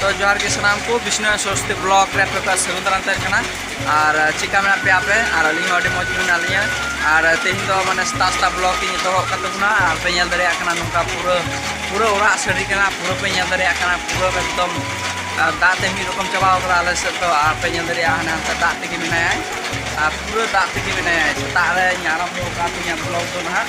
ᱛᱚ ᱡᱚᱦᱟᱨ ᱜᱮ ᱥᱟᱱᱟᱢ ᱠᱚ ᱵᱤᱥᱱᱩ ᱥᱚᱨᱚᱥᱛᱤ ᱵᱞᱚᱜ ᱨᱮ ᱟᱯᱮ ᱠᱚᱣᱟᱜ ᱥᱟᱹᱜᱩᱱ ᱫᱟᱨᱟᱢ ᱛᱟᱦᱮᱸ ᱠᱟᱱᱟ ᱟᱨ ᱪᱮᱠᱟ ᱢᱮᱱᱟᱜ ᱯᱮᱭᱟ ᱟᱯᱮ ᱟᱨ ᱟᱹᱞᱤᱧ ᱦᱚᱸ ᱟᱹᱰᱤ ᱢᱚᱡᱽ ᱜᱮ ᱢᱮᱱᱟᱜ ᱞᱤᱧᱟ ᱟᱨ ᱛᱮᱦᱮᱧ ᱫᱚ ᱢᱟᱱᱮ ᱥᱮᱛᱟᱜ ᱥᱮᱛᱟᱜ ᱵᱞᱚᱜ ᱤᱧ ᱮᱛᱚᱦᱚᱵ ᱠᱟᱱ ᱛᱟᱵᱚᱱᱟ ᱟᱨ ᱯᱮ ᱧᱮᱞ ᱫᱟᱲᱮᱭᱟᱜ ᱠᱟᱱᱟ ᱱᱚᱝᱠᱟ ᱯᱩᱨᱟᱹ ᱯᱩᱨᱟᱹ ᱚᱲᱟᱜ ᱥᱟᱹᱰᱤ ᱠᱟᱱᱟ ᱯᱩᱨᱟᱹ ᱯᱮ ᱧᱮᱞ ᱫᱟᱲᱮᱭᱟᱜ ᱠᱟᱱᱟ ᱯᱩᱨᱟᱹ ᱮᱠᱫᱚᱢ ᱫᱟᱜ ᱛᱮ ᱢᱤᱫ ᱨᱚᱠᱚᱢ ᱪᱟᱵᱟᱣ ᱠᱟᱫᱟ ᱟᱞᱮ ᱥᱮᱫ ᱫᱚ ᱟᱨ ᱯᱮ ᱧᱮᱞ ᱫᱟᱲᱮᱭᱟᱜᱼᱟ ᱦᱟᱱᱮ ᱦᱟᱱᱛᱮ ᱫᱟᱜ ᱛᱮᱜᱮ ᱢᱮᱱᱟᱭᱟ ᱟᱨ ᱯᱩᱨᱟᱹ ᱫᱟᱜ ᱛᱮᱜᱮ ᱢᱮᱱᱟᱭᱟ ᱥᱮᱛᱟᱜ ᱨᱮᱧ ᱟᱨᱟᱢᱵᱷᱚ ᱠᱟᱜ ᱛᱤᱧᱟ ᱵᱞᱚᱜ ᱫᱚ ᱱᱟᱦᱟᱜ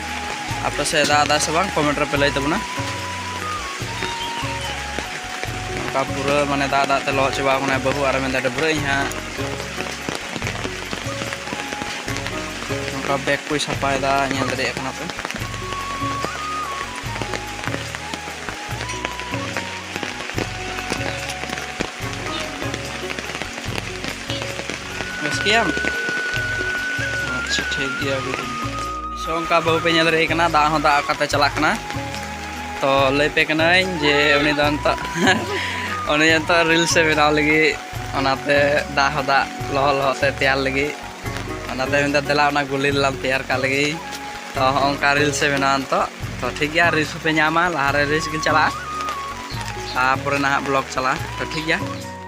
ᱟᱯᱮ ᱥᱮᱫ ᱫᱟᱜ ᱮᱫᱟ ᱥᱮ ᱵᱟᱝ ᱠᱚᱢᱮᱱᱴ ᱨᱮᱯᱮ ᱞᱟᱹᱭ ᱛᱟᱵᱚᱱᱟ ᱱᱚᱝᱠᱟ ᱯᱩᱨᱟᱹ ᱢᱟᱱᱮ ᱫᱟᱜ ᱫᱟᱜ ᱛᱮ ᱞᱚᱦᱚᱫ ᱪᱟᱵᱟ ᱟᱠᱟᱱᱟ ᱵᱟᱹᱦᱩ ᱟᱨ ᱢᱮᱱᱫᱟ ᱰᱟᱹᱵᱽᱨᱟᱹᱜ ᱤᱧ ᱦᱟᱸᱜ ᱱᱚᱝᱠᱟ ᱵᱮᱜᱽ ᱠᱚᱭ ᱥᱟᱯᱷᱟᱭᱮᱫᱟ ᱧᱮᱞ ᱫᱟᱲᱮᱭᱟᱜ ᱠᱟᱱᱟ ᱯᱮ ᱵᱮᱥ ᱜᱮᱭᱟᱢ ᱟᱪᱪᱷᱟ ᱴᱷᱤᱠ ᱜᱮᱭᱟ ᱥᱚ ᱚᱱᱠᱟ ᱵᱟᱹᱦᱩ ᱯᱮ ᱧᱮᱞ ᱨᱮ ᱠᱟᱱᱟ ᱫᱟᱜ ᱦᱚᱸ ᱫᱟᱜ ᱠᱟᱛᱮ ᱪᱟᱞᱟᱜ ᱠᱟᱱᱟ ᱛᱚ ᱞᱟᱹᱭ ᱯᱮ ᱠᱟᱹᱱᱟᱹᱧ ᱡᱮ ᱩᱱᱤ ᱫᱚ ᱱᱤᱛᱚᱜ ᱩᱱᱤ ᱱᱤᱛᱚᱜ ᱨᱤᱞᱥ ᱮ ᱵᱮᱱᱟᱣ ᱞᱟᱹᱜᱤᱫ ᱚᱱᱟᱛᱮ ᱫᱟᱜ ᱦᱚᱸ ᱫᱟᱜ ᱞᱚᱦᱚᱫ ᱞᱚᱦᱚᱫ ᱛᱮ ᱛᱮᱭᱟᱨ ᱞᱟᱹᱜᱤᱫ ᱚᱱᱟᱛᱮ ᱢᱮᱱᱫᱟ ᱫᱮᱞᱟ ᱚᱱᱟ ᱜᱩᱞᱤ ᱞᱟᱝ ᱛᱮᱭᱟᱨ ᱠᱟᱜ ᱞᱟᱹᱜᱤᱫ ᱛᱚ ᱚᱱᱠᱟ ᱨᱤᱞᱥ ᱮ ᱵᱮᱱᱟᱣᱟ ᱱᱤᱛᱚᱜ ᱛᱚ ᱴᱷᱤᱠ ᱜᱮᱭᱟ ᱨᱤᱞᱥ ᱯᱮ ᱧᱟᱢᱟ ᱞᱟᱦᱟᱨᱮ ᱨᱤᱞᱥ ᱜᱮ ᱪᱟᱞᱟᱜᱼᱟ ᱛᱟᱨᱯᱚᱨᱮ ᱱᱟᱦᱟᱜ ᱵᱞᱚᱜ ᱪᱟᱞᱟᱜᱼᱟ ᱛᱚ ᱴᱷᱤᱠ ᱜᱮᱭᱟ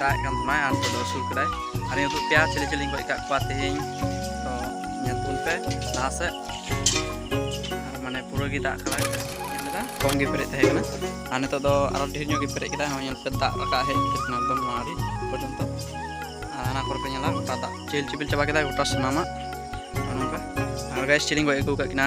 ᱫᱟᱜ ᱠᱟᱱ ᱛᱟᱦᱮᱱᱟᱭ ᱟᱨ ᱱᱤᱛᱚᱜ ᱫᱚ ᱟᱹᱥᱩᱞ ᱠᱮᱫᱟᱭ ᱟᱨ ᱱᱤᱛᱚᱜ ᱯᱮᱭᱟ ᱪᱤᱞᱤ ᱪᱤᱞᱤᱧ ᱜᱚᱡ ᱠᱟᱜ ᱠᱚᱣᱟ ᱛᱮᱦᱮᱧ ᱛᱚ ᱧᱮᱞ ᱛᱟᱵᱚᱱ ᱯᱮ ᱞᱟᱦᱟ ᱥᱮᱫ ᱟᱨ ᱢᱟᱱᱮ ᱯᱩᱨᱟᱹ ᱜᱮ ᱫᱟᱜ ᱠᱟᱫᱟᱭ ᱧᱮᱞ ᱞᱮᱫᱟ ᱠᱚᱢ ᱜᱮ ᱯᱮᱨᱮᱡ ᱛᱟᱦᱮᱸ ᱠᱟᱱᱟ ᱟᱨ ᱱᱤᱛᱚᱜ ᱫᱚ ᱟᱨᱚ ᱰᱷᱮᱨ ᱧᱚᱜ ᱜᱮ ᱯᱮᱨᱮᱡ ᱠᱮᱫᱟᱭ ᱦᱚᱸ ᱧᱮᱞ ᱯᱮ ᱫᱟᱜ ᱨᱟᱠᱟᱵ ᱦᱮᱡ ᱠᱟᱛᱮ ᱮᱠᱫᱚᱢ ᱱᱚᱣᱟ ᱟᱹᱰᱤ ᱯᱚᱨᱡᱚᱱᱛᱚ ᱟᱨ ᱦᱟᱱᱟ ᱠᱚᱨᱮ ᱯᱮ ᱧᱮᱞᱟ ᱜᱚᱴᱟ ᱫᱟᱜ ᱪᱮᱦᱮᱞ ᱪᱮᱯᱮᱞ ᱪᱟᱵᱟ ᱠᱮᱫᱟᱭ ᱜᱚᱴᱟ ᱥᱟᱱᱟᱢᱟᱜ ᱱᱚᱝᱠᱟ ᱟᱨ ᱜᱟᱭ ᱪᱤᱞᱤᱧ ᱜᱚᱡ ᱟᱹᱜᱩ ᱠᱟᱜ ᱠᱤᱱᱟ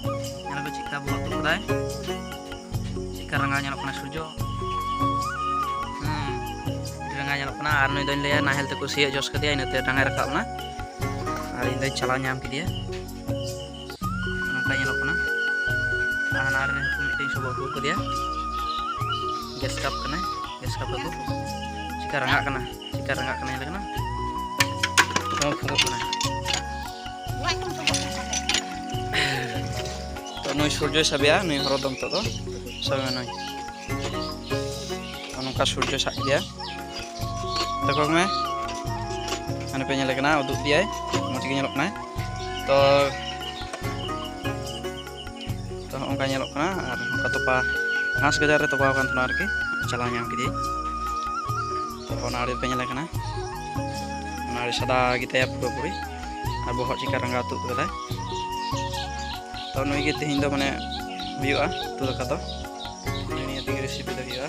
ᱧᱮᱞ ᱯᱮ ᱪᱮᱫᱠᱟ ᱵᱚᱦᱚᱜ ᱛᱩᱫ ᱠᱟᱫᱟᱭ ᱪᱮᱫᱠᱟ ᱨᱟᱸᱜᱟᱣ ᱧᱮᱞᱚᱜ ᱠᱟᱱᱟ ᱥᱩᱨᱡᱚ ᱨᱟᱸᱜᱟᱣ ᱧᱮᱞᱚᱜ ᱠᱟᱱᱟ ᱟᱨ ᱱᱩᱭ ᱫᱚᱧ ᱞᱟᱹᱭᱟ ᱱᱟᱦᱮᱞ ᱛᱮᱠᱚ ᱥᱤᱭᱳᱜ ᱡᱚᱥ ᱠᱮᱫᱮᱭᱟ ᱤᱱᱟᱹᱛᱮ ᱨᱟᱸᱜᱟᱭ ᱨᱟᱠᱟᱵ ᱮᱱᱟ ᱟᱨ ᱤᱧ ᱫᱚᱧ ᱪᱟᱞᱟᱣ ᱧᱟᱢ ᱠᱮᱫᱮᱭᱟ ᱱᱚᱝᱠᱟ ᱧᱮᱞᱚᱜ ᱠᱟᱱᱟ ᱟᱨ ᱦᱟᱱᱟ ᱨᱮ ᱢᱤᱫᱴᱮᱱ ᱥᱚᱵᱚᱜ ᱟᱹᱜᱩ ᱠᱟᱫᱮᱭᱟ ᱜᱮᱥ ᱠᱟᱯ ᱠᱟᱱᱟᱭ ᱜᱮᱥ ᱠᱟᱯ ᱟᱹᱜᱩ ᱪᱮᱫᱠᱟ ᱨᱟᱸᱜᱟᱜ ᱠᱟᱱᱟ ᱪᱮᱫᱠᱟ ᱨᱟᱸᱜᱟᱜ ᱠᱟᱱᱟ ᱧᱮᱞ ᱠᱟᱱᱟ ᱱᱚᱣᱟ ᱯᱷᱚᱜᱚᱜ ᱠᱟᱱᱟ ᱛᱚ ᱱᱩᱭ ᱥᱩᱨᱡᱚᱭ ᱥᱟᱵᱮᱭᱟ ᱱᱩᱭ ᱦᱚᱨᱚ ᱫᱚ ᱱᱤᱛᱚᱜ ᱫᱚ ᱥᱟᱵᱮ ᱱᱩᱭ ᱱᱚᱝᱠᱟ ᱥᱩᱨᱡᱚ ᱥᱟᱵ ᱠᱮᱫᱮᱭᱟ ᱛᱟᱠᱚ ᱢᱮ ᱦᱟᱱᱮ ᱯᱮ ᱧᱮᱞ ᱠᱟᱱᱟ ᱩᱫᱩᱜ ᱫᱮᱭᱟᱭ ᱢᱚᱡᱽ ᱜᱮ ᱧᱮᱞᱚᱜ ᱠᱟᱱᱟᱭ ᱛᱚ ᱛᱚ ᱦᱚᱸᱜᱼᱚᱝᱠᱟ ᱧᱮᱞᱚᱜ ᱠᱟᱱᱟ ᱟᱨ ᱚᱱᱠᱟ ᱛᱚᱯᱟ ᱜᱷᱟᱥ ᱜᱟᱡᱟᱲ ᱨᱮ ᱛᱚᱯᱟᱣ ᱟᱠᱟᱱ ᱛᱟᱦᱮᱱᱟ ᱟᱨᱠᱤ ᱪᱟᱞᱟᱣ ᱧᱟᱢ ᱠᱮᱫᱮᱭᱟᱹᱧ ᱛᱚ ᱚᱱᱟ ᱟᱲᱮ ᱨᱮᱯᱮ ᱧᱮᱞ ᱠᱟᱱᱟ ᱚᱱᱟ ᱟᱲᱮ ᱥᱟᱫᱟ ᱜᱮᱛᱟᱭᱟ ᱯᱩᱨᱟᱹᱯᱩᱨᱤ ᱟᱨ ᱵᱚᱦᱚᱜ ᱪᱤᱠᱟ ᱨᱟᱸᱜᱟᱣ ᱛᱩᱫ ᱠᱟᱫᱟᱭ ᱛᱚ ᱱᱩᱭ ᱜᱮ ᱛᱮᱦᱮᱧ ᱫᱚ ᱢᱟᱱᱮ ᱦᱩᱭᱩᱜᱼᱟ ᱩᱛᱩ ᱫᱟᱠᱟ ᱫᱚ ᱱᱤᱭᱟᱹ ᱛᱮᱜᱮ ᱨᱮᱥᱤᱯᱤ ᱫᱚ ᱦᱩᱭᱩᱜᱼᱟ